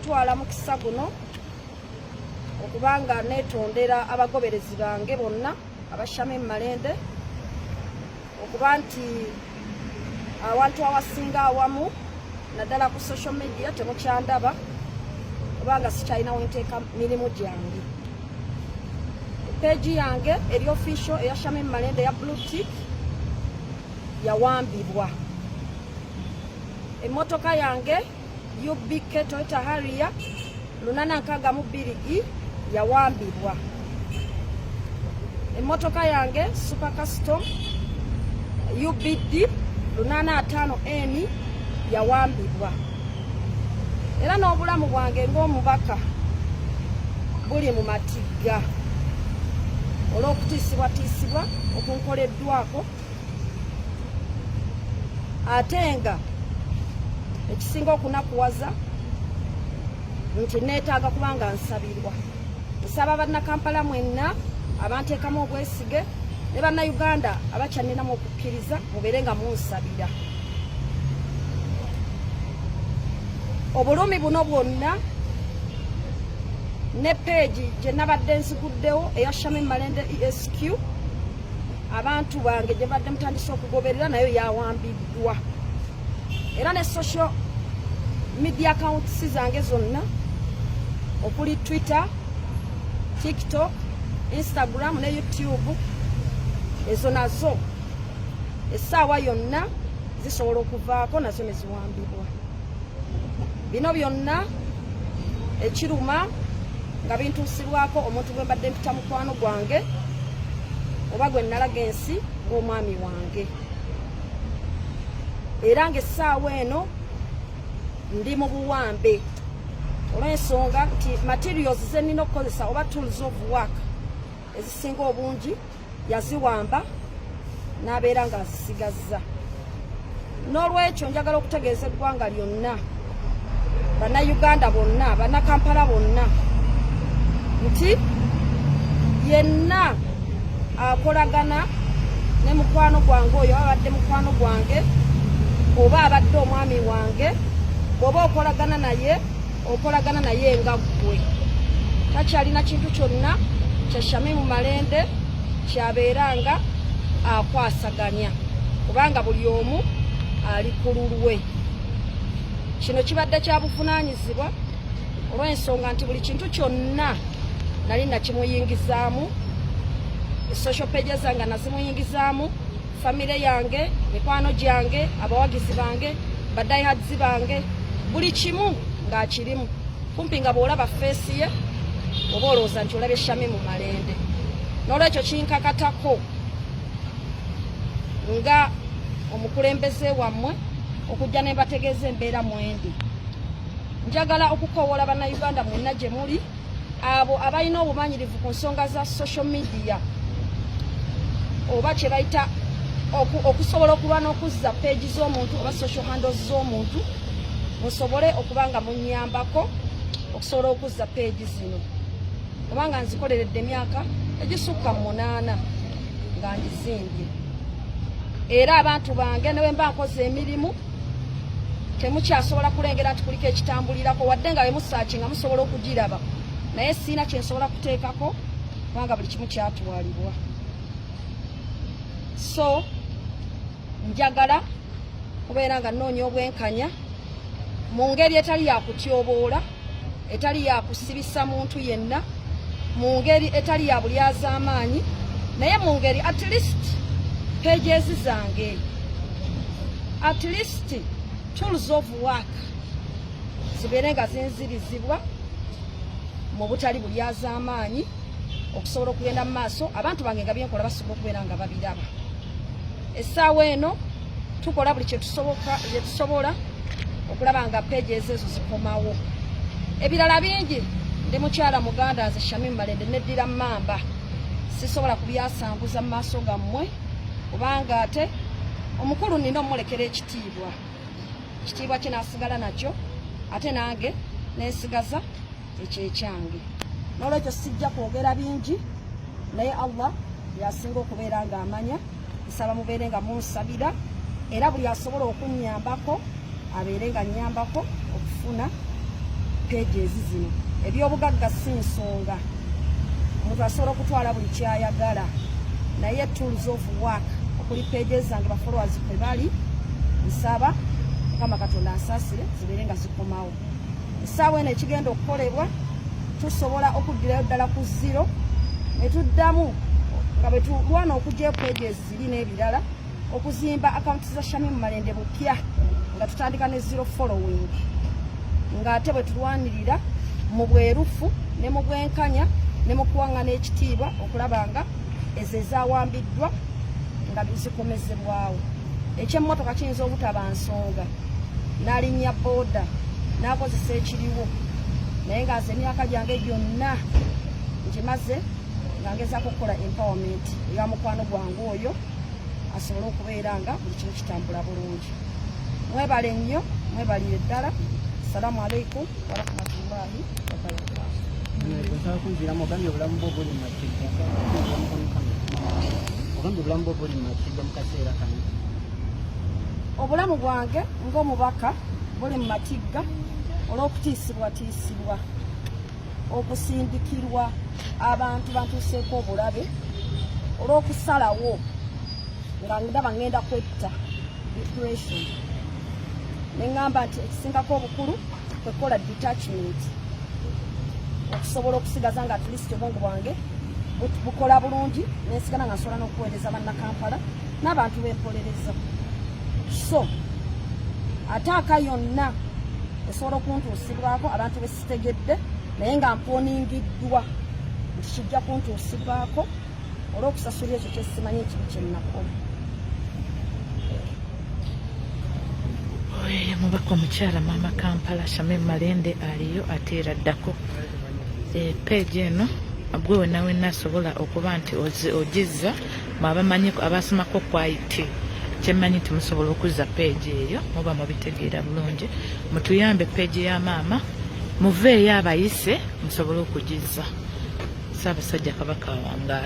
Twala mukisa guno okubanga netondera abagoberezi bange bonna abashame malende okuba nti awantu awasinga awamu naddala ku social media temukyandaba kubanga sikyalina wenteeka mirimu gyange peegi yange eri ofisio eya shame malende ya blue tick yawambibwa emotoka yange UBK Toyota Harrier lunana nkaaga mu bbiri i yawambibwa emmotoka yange super custom UBD lunana ataano n yawambibwa era n'obulamu bwange ng'omubaka buli mu matigga olw'okutiisibwatiisibwa okunkoleddwako ate nga ekisinga okunakuwaza nti neetaaga kuba nga nsabirwa nsaba bannakampala mwenna abanteekamu obwesige ne bannayuganda abakyaninamu okukkiriza mubeere nga munsabira obulumi buno bwonna ne peegi gye nabadde nziguddewo eya shami malende esq abantu bange gye mbadde mutandise okugoberera nayo yawambiddwa era ne social media accounts zange zonna okuli twitter tiktok instagram ne youtube ezo nazo essaawa yonna zisobola okuvaako nazo ne ziwambibwa bino byonna ekiruma nga bintuusibwako omuntu gwe mbadde mpita mukwano gwange oba gwe nnalaga ensi ng'omwami wange era ng'essaawa eno ndi mu buwambe olw'ensonga nti materials ze nnina okukozesa oba tools of work ezisinga obungi yaziwamba n'abeera ng'azisigazza n'olwekyo njagala okutegeeza eggwanga lyonna bannayuganda bonna bannakampala bonna nti yenna akolagana ne mukwano gwange oyo abadde mukwano gwange oba abadde omwami wange oba okolagana naye okolagana naye nga ggwe takyalina kintu kyonna kya shamimu malende kyabeera nga akwasaganya kubanga buli omu ali ku lulwe kino kibadde kya buvunaanyizibwa olw'ensonga nti buli kintu kyonna nali nakimuyingizaamu social pages nga nazimuyingizaamu famire yange mikwano gyange abawagizi bange badayihadizi bange buli kimu ng'akirimu kumpi nga bw'olaba feesi ye oba olowooza nti olabye shami mu malende n'olwekyo kinkakatako nga omukulembeze wammwe okujja ne mbategeeza embeera mwendi njagala okukowoola bannayuganda mwenna gye muli abo abalina obumanyirivu ku nsonga za social media oba kyebayita okusobola okuba n'okuzza peegi z'omuntu oba social handles z'omuntu musobole okuba nga munyambako okusobola okuzza peegi zino kubanga nzikoleredde emyaka egisukka mu munaana nga ngizimbye era abantu bange newemba nkoze emirimu temukyasobola kulengera nti kuliko ekitambulirako wadde nga wemusaki nga musobola okugiraba naye siina kyensobola kuteekako kubanga buli kimu kyatwalibwa so njagala kubeera nga nnoonya obwenkanya mu ngeri etali yakutyoboola etali ya kusibisa muntu yenna mu ngeri etali ya bulyazaamaanyi naye mu ngeri at least pages zange at least tools of work zibeere nga zinzirizibwa mu butali bulyazaamaanyi okusobola okugenda mu maaso abantu bange nga byenkola basobola okubeera nga babiraba essaawa eno tukola buli kyetusobola okulaba nga peegi ezo ezo zikomawo ebirala bingi ndi mukyala muganda nze shamim malende neddira mamba sisobola kubyasanguza mu maaso gammwe kubanga ate omukulu nina omulekera ekitiibwa ekitiibwa kye nasigala nakyo ate nange nensigaza ekyo ekyange nolwekyo sijja kwogera bingi naye allah yasinga okubeera nga amanya nsaba mubeere nga munsabira era buli asobola okunyambako abeere nga nyambako okufuna peegi ezi zino ebyobugagga si nsonga omuntu asobola okutwala buli kyayagala naye tools of work okuli pages zange bafolowers kwe bali nsaba mukama katonda nsaasire zibeere nga zikomawo essaawa eno ekigenda okukolebwa tusobola okuddirayo ddala ku ziro ne tuddamu nga bwe tulwana okugyayo peegi eziri n'ebirala okuzimba akawunti za shamimu malende bupya nga tutandika ne zero following ng'ate bwe tulwanirira mu bwerufu ne mu bwenkanya ne mu kuwaŋŋana ekitiibwa okulaba nga ezo ezawambiddwa nga zikomezebwawo ekyemmotoka kiyinza obutaba nsonga nalinnya booda nakozesa ekiriwo naye nga nze emyaka gyange gyonna ngimaze nga ngezako okukola empowerment eya mukwano gwange oyo asobole okubeera nga buli kimu kitambula bulungi mwebale nnyo mwebalire ddala assalamu alaikum warahmatullahi wabarakatu obulamu bwange ng'omubaka buli mu matigga olw'okutiisibwatiisibwa okusindikirwa abantu bantuuseeko obulabe olw'okusalawo nga ndaba ngenda kwetta depression ne ŋŋamba nti ekisingako obukulu kwekola detachment okusobola okusigaza nga tuli obwongo bwange bukola bulungi nensigala nga nsobola n'okuweereza bannakampala n'abantu bempolereza so ataaka yonna esobola okuntuusibwako abantu besitegedde naye nga mponingiddwa nti kijja kuntuusibwako olw'okusasula ekyo kyesimanyi ekibi kyennakola mubaka omukyala maama kampala shame malende aliyo ate era ddako eh, peegi eno gwe wena wena asobola okuba nti ogizza mwabamanyi abasomako kwit kyemanyi nti musobola okuzza peegi eyo muba mubitegeera bulungi mutuyambe peegi ya maama muveeyo abayise musobole okugizza saabasajja kabaka wangaale